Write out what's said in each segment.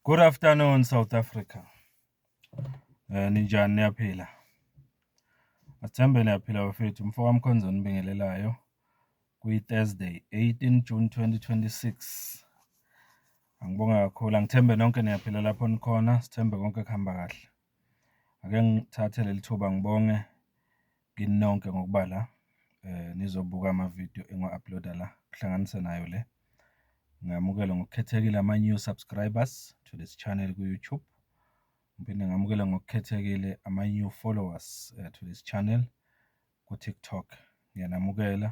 Good afternoon South Africa. Eh ninjani niyaphila? Athembe niyaphila bafethu mfoka Mkhonzo nibingelelayo kwi Thursday 18 June 2026. Angibonga kakhulu angithembe nonke niyaphila lapho nikhona sithembe konke kuhamba kahle. Ake ngithathe leli thuba ngibonge kini nonke ngokuba la nizobuka amavidiyo engiwa-upload-a la, kuhlanganise nayo le. Ngamukele ngokukhethekile ama-new subscribers to this channel ku-YouTube. Ngiphinde ngamukele ngokukhethekile ama-new followers eh, to this channel ku-TikTok. Ngiyanamukela.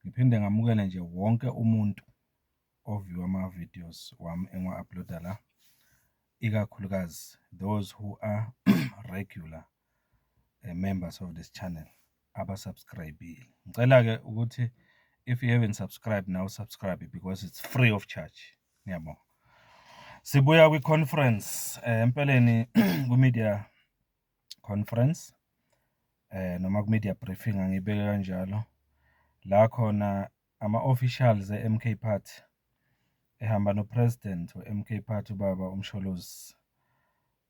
Ngiphinde ngamukele nje wonke umuntu oview ama-videos wami engiwa-upload-a la, ikakhulukazi those who are regular eh, members of this channel abasubscribile. Ngicela-ke ukuthi if you haven't subscribed now subscribe because it's free of charge. Ngiyabonga. Sibuya kwi-conference eh, empeleni kwi-media conference eh noma ku-media briefing angiyibeke kanjalo la khona Ama officials e MK party ehamba no president we MK party ubaba uMsholozi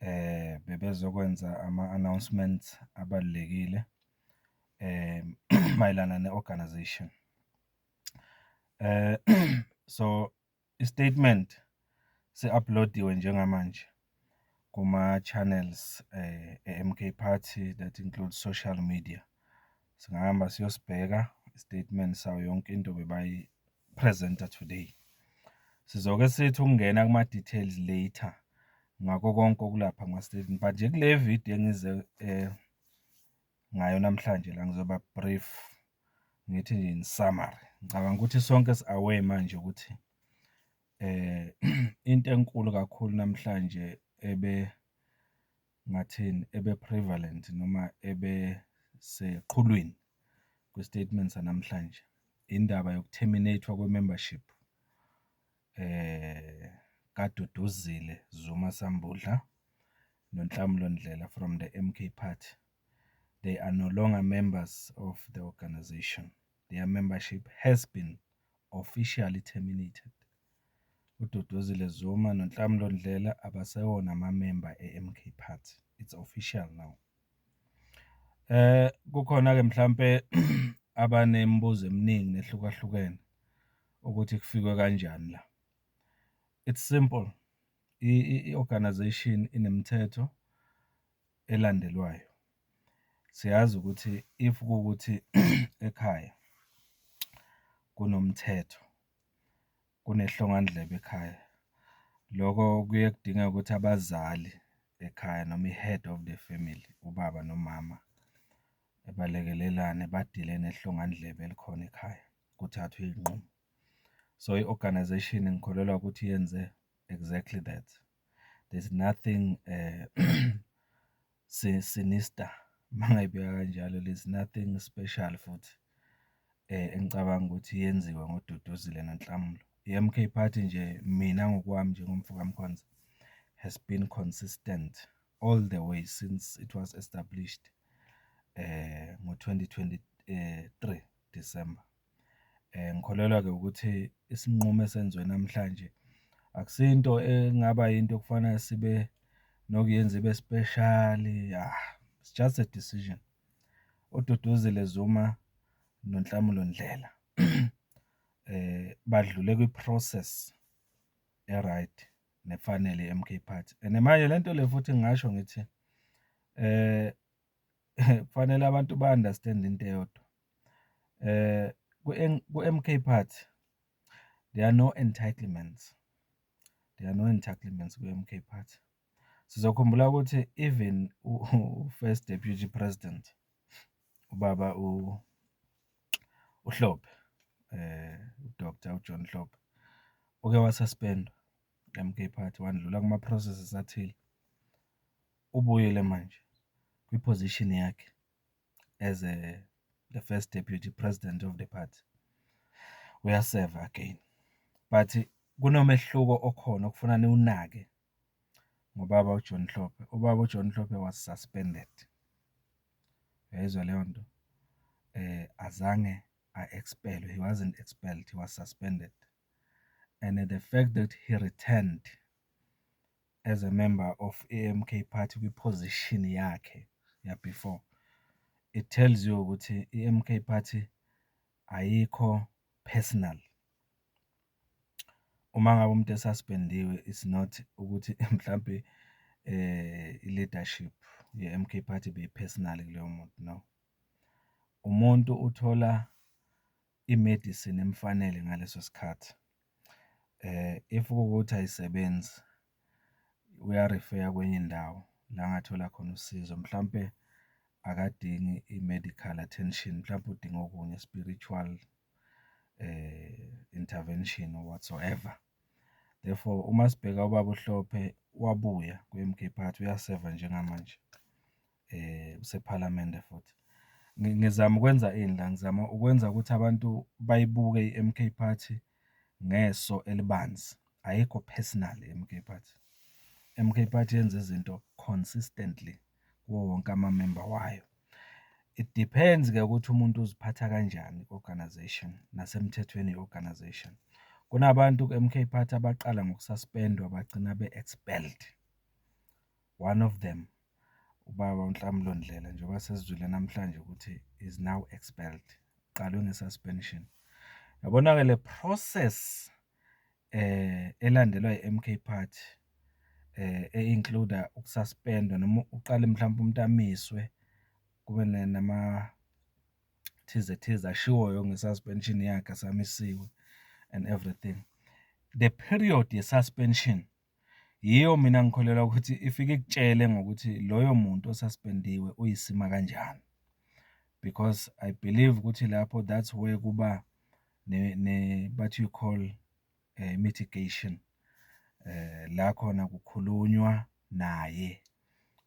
eh bebezokwenza ama announcements abalulekile eh mayelana ne organization eh so I-statement se-upload-iwe njengamanje kuma-channels e-MK Party that includes social media. Singahamba siyosibheka i-statement sayo yonke into bebayi-present-a today. Sizoke sithi ukungena kuma-details later ngakho konke okulapha kuma-statement but nje kule video engize ngayo namhlanje la ngizoba brief ngithi nje in summary ngicabanga ukuthi sonke si-aware manje ukuthi eh into enkulu kakhulu namhlanje ebe ngathini ebe prevalent noma ebe seqhulwini kwistatement sanamhlanje indaba yokuterminatwa kwemembership kaDuduzile Zuma Sambudla noNhlamulo Ndlela from the M_K party. They are no longer members of the organisation, their membership has been officially terminated. UDuduzile Zuma noNhlamulo Ndlela abasewona amamemba e-M_K party, it's official now. Kukhona-ke mhlampe abanemibuzo eminingi nehlukahlukene. ukuthi kufikwe kanjani la. It's simple, i-organization inemithetho elandelwayo. Siyazi ukuthi if kuwukuthi ekhaya kunomthetho, kunehlongandlebe ekhaya, loko kuye kudingeke ukuthi abazali ekhaya noma i-head of the family, ubaba nomama, balekelelane, badile nehlongandlebe elikhona ekhaya. kuthathwe iy'nqumo. So i-organisation ngikholelwa ukuthi yenze exactly that. There's nothing sinister uma ngayibeka kanjalo, there's nothing special futhi engicabanga ukuthi yenziwe ngoDuduzile noNhlamulo. I-M_K party nje mina ngokwami njengomfo kaMkhonza has been consistent all the way since it was established ngo-twenty twenty three. December. Ngikholelwa-ke ukuthi isinqumo esenziwe namhlanje akusiyo into engaba yinto okufanele sibe nokuyenza ibe speshali, yah it's just a decision. UDuduzile Zuma noNhlamulo Ndlela badlule kwi-process e-right nefanele ye-M_K Party. And manje le nto le futhi ngingasho ngithi . kufanele abantu ba-understand-e into eyodwa, ku-M_K party there are no entitlements, there are no entitlements ku-M_K party. Sizokhumbula ukuthi even u-first deputy president, ubaba uHlophe, u-Doctor uJohn Hlophe, uke wa-suspend-wa ku-M_K party, wandlula kuma-processes athile. Ubuyile manje kwi-position yakhe as a the first deputy president of the party. Uyaseva again. But kunomehluko okhona okufuna niwunake ngobaba uJohn Hlophe. Ubaba uJohn Hlophe was suspended. Uyayizwa leyo nto? Eh azange a-expellwe. He wasn't expelled, he was suspended. And the fact that he returned as a member of iMK party kwi-position yakhe ya-before, it tells you ukuthi iMK party ayikho personal. Uma ngabe umuntu e-suspendiwe is not ukuthi mhlampe i-leadership ye-MK party beyi-personal kuloyo muntu, no. Umuntu uthola i-medicine emfanele ngaleso sikhathi. If kuwukuthi ayisebenzi uyarifeya kwenye indawo la angathola khona usizo, mhlampe akadingi i-medical attention, mhlampe udinga okunye spiritual intervention or whatsoever. Therefore, uma sibheka ubaba uHlophe wabuya kwi-M_K party uyaseva njengamanje. usePhalamende futhi. Ngizama ukwenza ini la? Ngizama ukwenza ukuthi abantu bayibuke i-M_K Party ngeso elibanzi, ayikho personal i-M_K Party. I-M_K Party yenza izinto consistently kuwo wonke amamemba wayo. It depends-ke ukuthi umuntu uziphatha kanjani ku-organization nasemthethweni ye-organization. Kunabantu ku-M_K Party abaqala ngoku-suspend-wa bagcina be-expelled, one of them. ubaba uNhlamulo Ndlela njengoba sesizwile namhlanje ukuthi is now expelled, uqalwe nge-suspension. Yabona-ke le process elandelwa i-MK Party e-include-a uku-suspend-wa noma uqale mhlawumbe umuntu amiswe kube nama thize thize ashiwoyo nge-suspension yakhe asamisiwe and everything. The period ye-suspension. Yiyo mina ngikholelwa ukuthi ifike ikutshele ngokuthi loyo muntu osaspendiwe uyisima kanjani. Because I believe ukuthi lapho that's where kuba what you call mitigation la khona kukhulunywa naye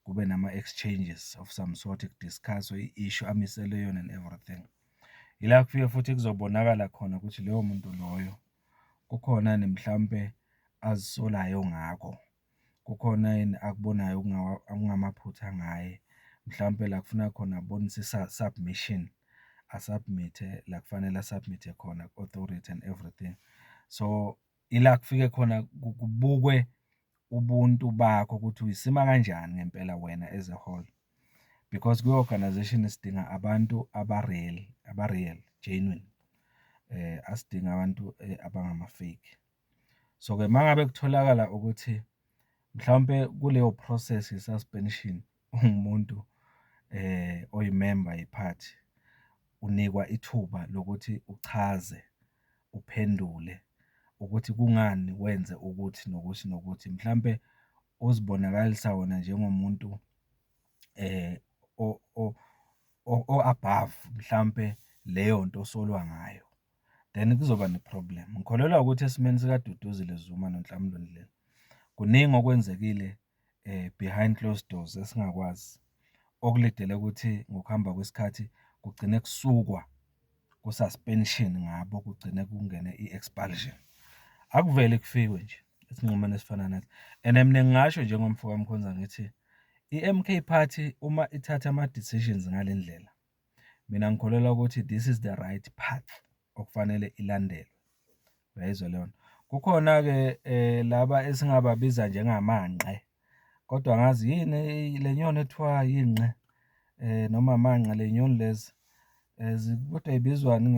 kube nama-exchanges of some sort ku-discuss-we i-issue amiselwe yona and everything. Ila kufike futhi kuzobonakala khona ukuthi loyo muntu loyo. Kukhona yini mhlampe azisolayo ngakho? Kukhona yini akubonayo okungamaphutha ngaye? Mhlampe la kufuna khona abonise i-submission, a-submit-e la kufanele a-submit-e khona ku-authority and everything. So, ila kufike khona kubukwe ubuntu bakho ukuthi uyisima kanjani ngempela wena as a whole because kwi-organization sidinga abantu aba-real aba-real genuine eh asidinga abantu eh, abangama-fake so-ke uma ngabe kutholakala ukuthi mhlawumpe kuleyo process ye-suspension ungumuntu oyimemba yephathi unikwa ithuba lokuthi uchaze, uphendule ukuthi kungani wenze ukuthi nokuthi nokuthi. Mhlampe uzibonakalisa wena njengomuntu o-above mhlampe leyo nto osolwa ngayo, then kuzoba ne-problem. Ngikholelwa ukuthi esimeni sikaDuduzile Zuma noNhlamulo Ndlela kuningi okwenzekile. behind closed doors esingakwazi, okulidele ukuthi ngokuhamba kwesikhathi kugcine kusukwa ku-suspension ngabo, kugcine kungene i-expulsion. Akuveli kufikwe nje esinqumweni esifana nalesi and mina ngingasho njengomfoka Mkhonza ngithi i-M_K party uma ithatha ama-decisions ngale ndlela. mina ngikholelwa ukuthi this is the right path okufanele ilandelwe uyayizwa leyo nto kukhona-ke um laba esingababiza njengamanqe kodwa ngazi yini le nyoni ethiwa yinqe um noma manqe le nyoni lezi um kodwa ibizwani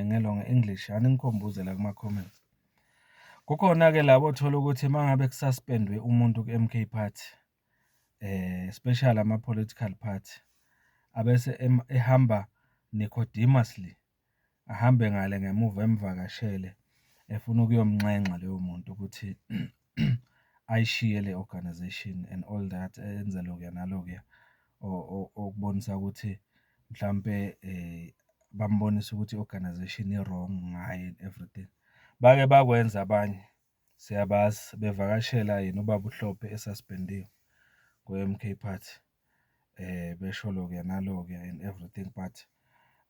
ngelo nge-english aningikhombuze la kuma-comments kukhona-ke labo othola ukuthi uma ngabe kusaspendwe umuntu ku-m k party especially ama-political party, abese ehamba necodemosly, ahambe ngale ngemuva emvakashele efuna ukuyomnxenxa loyo muntu ukuthi ayishiye le organization and all that, enze lokuya nalokuya okubonisa ukuthi mhlampe bambonise ukuthi i-organization i-wrong ngaye and everything. Bake bakwenza abanye. Siyabazi bevakashela yena ubaba uHlophe esuspendiwe kwiMK Party besho lokuya nalokuya and everything but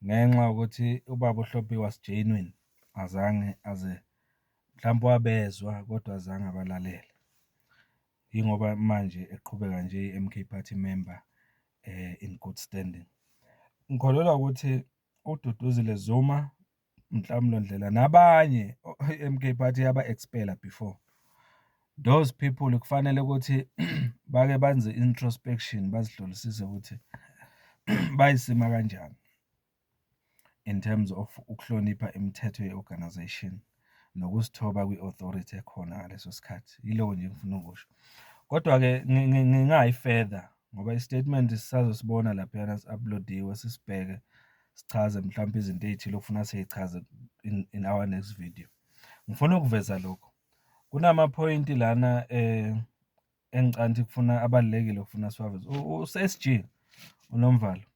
ngenxa yokuthi ubaba uHlophe was genuine azange aze mhlampe wabezwa kodwa azange abalalele. Yingoba manje eqhubeka nje eyi-M_K Party member in good standing. Ngikholelwa ukuthi uDuduzile Zuma Nhlamulo Ndlela nabanye MK Party yaba expela before those people kufanele ukuthi bake benze introspection bazihlolisise ukuthi bayisima kanjani in terms of ukuhlonipha imithetho ye-organization nokuzithoba kwi-authority ekhona ngaleso sikhathi yilowo nje ngifuna ukusho kodwa-ke ngingayi further ngoba i-statement sisazosibona laphayana si-uploadiwe sisibheke sichaze mhlawumbe izinto ey'thile okufuna siyichaze in, in our next video ngifuna ukuveza lokho kunamaphoyinti lana eh engicanti kufuna abalekile kufuna siwaveze uSG uNomvalo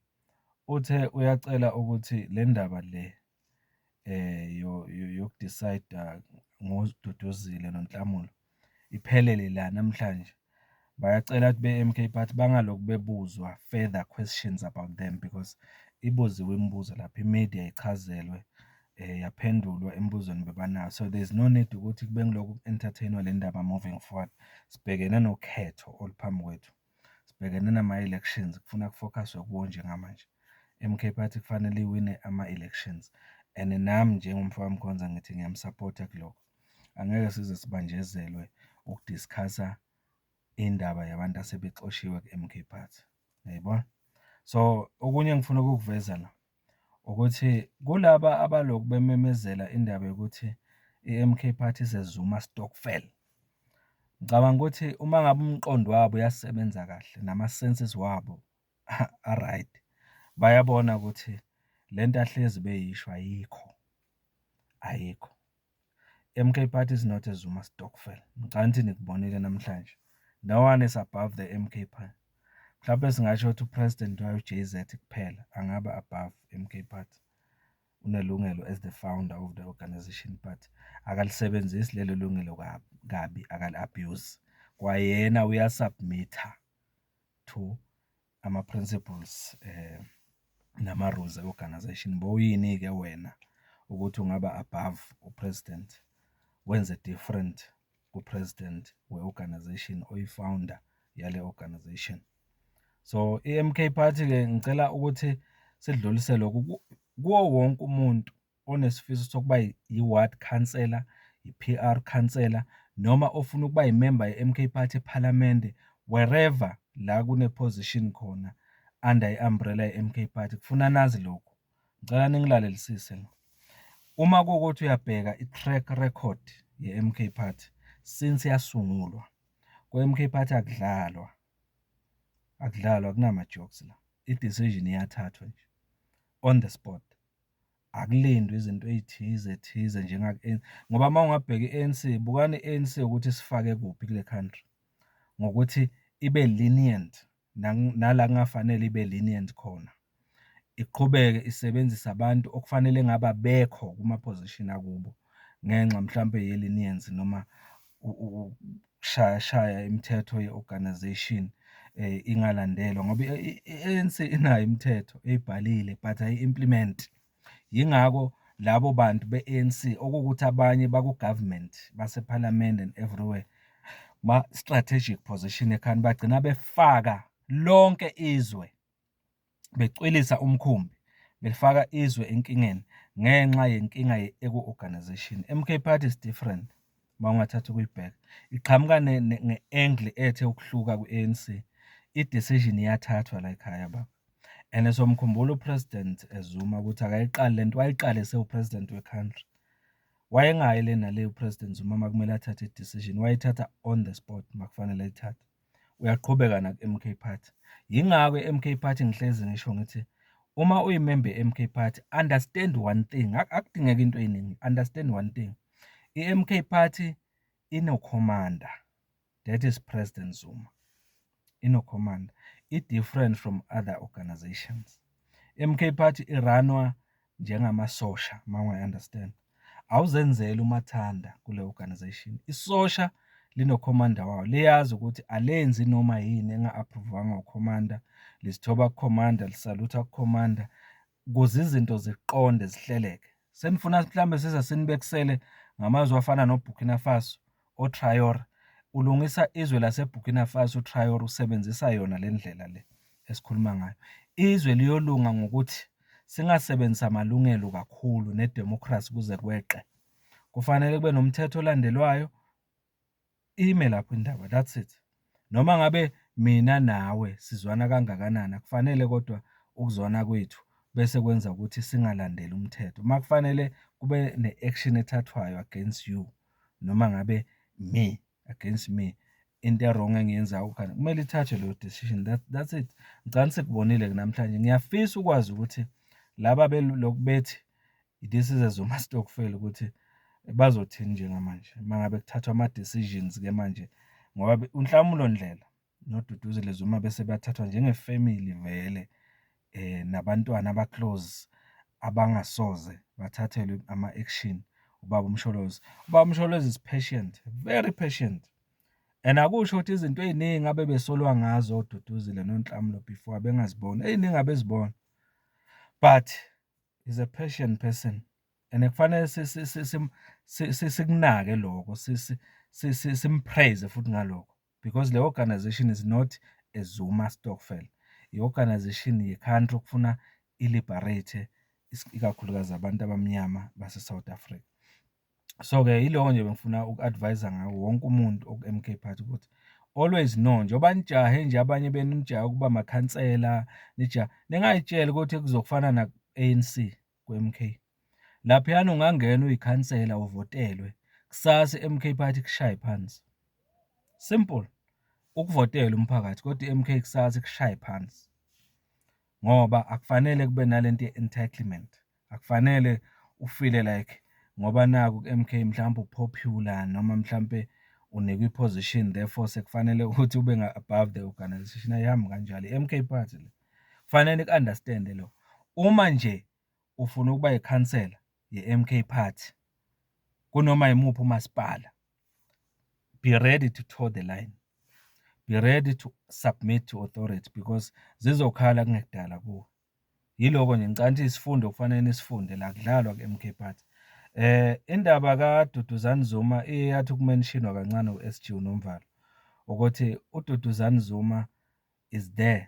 uthe uyacela ukuthi le ndaba le eh yokudecide ngoziduduzile nonhlamulo iphelele la namhlanje. Bayacela ukuthi be-M_K party bangaloku bebuzwa further questions about them because ibuziwe imibuzo lapha i-media ichazelwe yaphendulwa emibuzweni bebanayo. So there's no need ukuthi kube ngilokhu ku-entertain-wa le ndaba moving forward. Sibhekene nokhetho oluphambi kwethu, sibhekene nama-elections kufuna ku-focus-we kuwo njengamanje. I-M_K party kufanele iwine ama-elections and nami njengomfokaMkhonza ngithi ngiyamu-support-a kulokho. Angeke size sibanjezelwe uku-discuss-a indaba yabantu asebexoshiwe ku-M_K Party, uyayibona? So, okunye engifuna ukukuveza la ukuthi kulaba abaloku bememezela indaba yokuthi i-M_K Party is a Zuma stokvel. Ngicabanga ukuthi uma ngabe umqondo wabo uyasebenza kahle nama-senses wabo a-right, bayabona ukuthi le nto ahlezi beyisho ayikho, ayikho. MK party is not a Zuma stokvel ngcanthi nikubonile namhlanje no one is above the MK party mhlawumbe singasho ukuthi upresident wayo JZ kuphela angaba above MK party unelungelo as the founder of the organization but akalisebenzisi lelo lungelo kabi akali abuse kwayena uyasubmitter to ama-principles nama-rules e-organization bowuyini-ke wena ukuthi ungaba above u-president, wenze different ku-president we-organization oyi-founder yale organization. So, i-M_K party-ke ngicela ukuthi sidlulisele kuwo wonke umuntu onesifiso sokuba yi-ward councillor, yi-P_R councillor noma ofuna ukuba yimemba ye-M_K party ephalamende, wherever la kune-position khona under i-umbrella ye-M_K party, kufuna nazi lokhu. Ngicela ningilalelisise la. Uma kuwukuthi uyabheka i-track record ye-M_K party since yasungulwa, kwe-M_K party akudlalwa, akudlalwa akunama-jokes la, i-decision iyathathwa nje on the spot. Akulindwe izinto ey'thize thize ngoba uma ungabheka i-A_N_C, bukani i-A_N_C ukuthi isifake kuphi kule country, ngokuthi ibe lenient nala kungafanele ibe lenient khona. Iqhubeke isebenzise abantu okufanele ngabe abekho kuma-position akubo ngenxa mhlampe ye-leniency noma . ukushayashaya imithetho ye-organisation ingalandelwa ngoba i-ANC inayo imithetho eyibhalile but ayi-implement. Yingakho labo bantu be-ANC okuwukuthi abanye baku-government basephalamende and everywhere ma-strategic position ekhanda bagcina befaka lonke izwe becwilisa umkhumbi belifaka izwe enkingeni ngenxa yenkinga eku-organization. MK Party is different uma ungathatha ukuyibheka iqhamuka nge-angle ethe ukuhluka kwi-anc i-decision iyathathwa la ekhaya baba and somkhumbula upresident ezuma ukuthi akayiqali le nto wayiqale sewupresident we-country wayengayi le nale upresident zuma uma kumele athathe i-decision wayithatha on the spot uma kufanele ayithathe uyaqhubeka naku-M_K Party. Yingakho i-M_K Party ngihlezi ngisho ngithi uma uyimemba ye-M_K Party understand one thing, akudingeki into ey'ningi understand one thing, i-M_K Party inokhomanda that is President Zuma, inokhomanda i-different from other organisations. I-M_K Party i-run-wa. njengamasosha uma ungayi understand awuzenzeli umathanda kule organization isosha linokhomanda wawo liyazi ukuthi alenzi noma yini enga-aphruvwanga ukhomanda lizithoba kukhomanda lisalutha kukhomanda kuze izinto ziqonde zihleleke senifuna mhlawumbe size sinibekisele ngamazwi afana nobhukina faso oTraore ulungisa izwe laseBurkina Faso uTraore usebenzisa yona le ndlela le esikhuluma ngayo. Izwe liyolunga ngokuthi singasebenzisi amalungelo kakhulu nedemokhrasi kuze kweqe. Kufanele kube nomthetho olandelwayo, ime lapho indaba that's it. Noma ngabe mina nawe sizwana kangakanani akufanele kodwa ukuzwana kwethu bese kwenza ukuthi singalandeli umthetho. Uma kufanele kube ne-action ethathwayo against you noma ngabe me against me into erong engiyenzayo khona kumele ithathwe leyo decision that, that's it ngicani sekubonile-ke namhlanje ngiyafisa ukwazi ukuthi laba beloku bethi i-decises zomastokfela ukuthi bazothini njengamanje uma ngabe kuthathwa ama-decisions-ke manje ngoba uNhlamulo Ndlela noDuduzile Zuma bese bathathwa njenge-family vele um nabantwana aba-close abangasoze bathathelwe ama-action ubaba uMsholozi. Ubaba uMsholozi is patient, very patient and akusho ukuthi izinto ey'ningi abebesolwa ngazo oDuduzile noNhlamulo before abengaziboni, ey'ningi abezibona but is a passion person and kufanele sikunake lokho simpraise futhi ngalokho because le organization is not a Zuma stokvel i-organization ye-country okufuna i-liberate ikakhulukazi abantu abamnyama base-south africa So-ke yiloko nje bengifuna uku-advise-a ngawo wonke umuntu oku-M_K Party ukuthi always know njengoba nijahe nje abanye benu nijahe ukuba makhansela, nijahe, ningay'tsheli ukuthi kuzofana naku-A_N_C ku-M_K. Laphayana ungangena uyikhansela uvotelwe, kusasa i-M_K Party ikushaye phansi. Simple, ukuvotela umphakathi kodwa i-M_K kusasa ikushaye phansi ngoba akufanele kube nale nto ye-entitlement. Akufanele ufile like ngoba naku ku-MK mhlawumbe upopular noma mhlawumbe unikwa i-position therefore sekufanele ukuthi ube above the organization ayihambi kanjalo i-MK party le kufanele niku-understande lo uma nje ufuna ukuba yikhansela ye-MK party kunoma yimuphi umasipala be ready to toe the line be ready to submit to authority because zizokhala kungekudala kuwe Yiloko nje ngicabanga ukuthi isifundo okufanele nisifunde la kudlalwa ku-MK Party. Eh indaba kaDuduzani Zuma iyathi ukumentionwa kancane uSG uNomvalo ukuthi uDuduzani Zuma is there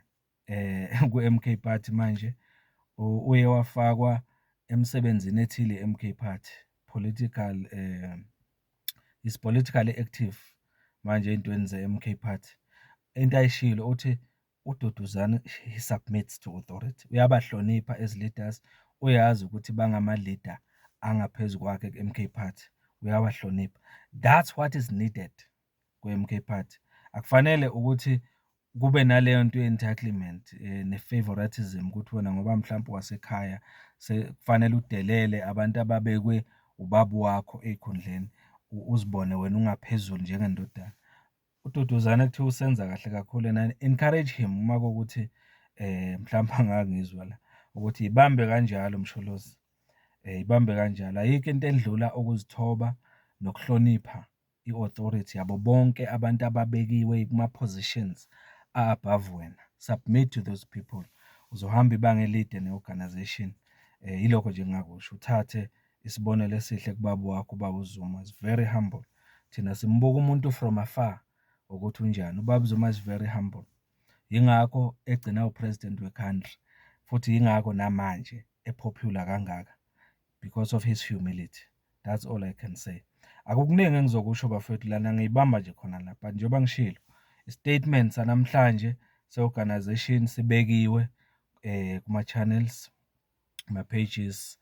eh ku-MK Party manje uye wafakwa emsebenzini ethile MK Party political eh is politically active manje ey'ntweni ze-MK Party. Into ayishilo uthi uDuduzani he submits to authority, uyabahlonipha as leaders, uyazi ukuthi bangama-leader angaphezu kwakhe ku-MK Party, uyawahlonipha. That's what is needed ku-MK Party. Akufanele ukuthi kube naleyo nto ye-entitlement eh, ne-favoritism ukuthi wena ngoba mhlawumpe wasekhaya sekufanele udelele abantu ababekwe ubaba wakho ey'khundleni uzibone wena ungaphezulu njengendodana. UDuduzane kuthiwa usenza kahle kakhulu and I encourage him uma kuwukuthi eh mhlawumbe angangizwa la ukuthi ibambe kanjalo Msholozi eh ibambe kanjalo ayikho into endlula ukuzithoba nokuhlonipha i-authority yabo bonke abantu ababekiwe kuma-positions a-above wena submit to those people uzohamba ibanga elide ne-organization eh yilokho nje ngingakusho uthathe Isibonelo esihle kubaba wakho ubaba uZuma is very humble. Thina simbuka umuntu from afar ukuthi unjani. Ubaba uZuma is very humble. Yingakho egcina upresident wecountry futhi yingakho namanje epopular kangaka because of his humility. That's all I can say. Akukuningi engizokusho bafethu lana ngiyibamba nje khona la but njengoba ngishilo istatement sanamhlanje se-organization sibekiwe eh kuma-channels ama-pages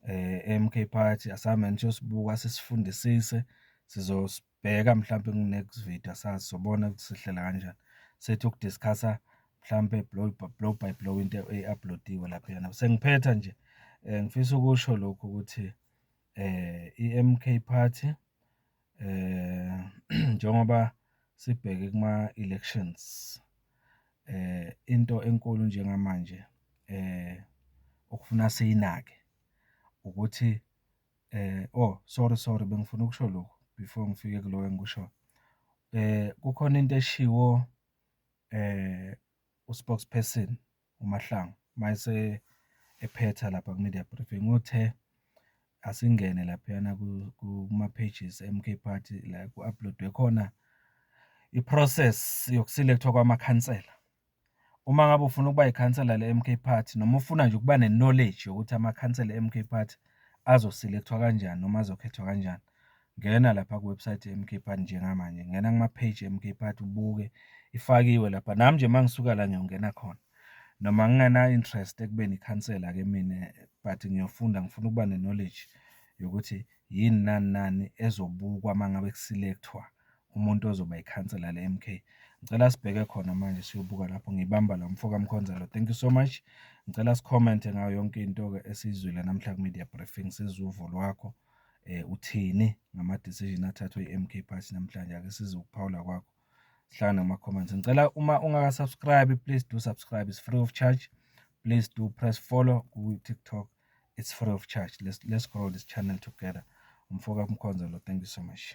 e-M_K party asamane siyosibuka sisifundisise, sizosibheka mhlampe ku-next video asazi sobona ukuthi sihlela kanjani. Sethi uku-discuss-a mhlampe blow blow by blow into e-upload-iwe laphayana. Sengiphetha nje ngifisa ukusho lokhu ukuthi i-M_K party eh njengoba sibheke kuma elections eh into enkulu njengamanje eh okufuna siyinake ukuthi eh oh sorry sorry bengifuna ukusho lokho before ngifike kulo engikusho eh kukhona into eshiwo eh uspokesperson uMahlangu uma ephetha lapha ku-media briefing uthe asingene laphayana kuma-pages e-MK Party la ku-upload-we khona i-process yokusilekthwa kwamakhansela. Uma ngabe ufuna ukuba yikhansela le-MK Party noma ufuna nje ukuba ne-knowledge yokuthi amakhansela e-MK Party azosilekthwa kanjani noma azokhethwa kanjani. Ngena lapha kuwebsite yeMK Party njengamanje, ngena kuma-page eMK Party ubuke ifakiwe lapha. Nami nje uma ngisuka la ngiyongena khona noma ngingena-interest ekubeni ikhansela-ke mina but ngiyofunda ngifuna ukuba ne-knowledge yokuthi yini nani nani ezobukwa uma ngabe ku-select-wa umuntu ozoba ikhansela le-M_K. Ngicela sibheke khona manje siyobuka lapho ngibamba la mfoka Mkhonzalo. Thank you so much. Ngicela sikhomente ngayo yonke into-ke esiyizwile namhla ku-media briefing, sizwe uvo lwakho. um uthini ngama-decision athathwe i-M_K Party namhlanje. Ake sizwe ukuphawula kwakho, sihlangane kuma-comments. Ngicela uma ungaka-subscribe, please do subscribe, it's free of charge. Please do press follow ku-TikTok, it's free of charge. Let's, let's grow this channel together. Umfoka Mkhonza lo, thank you so much.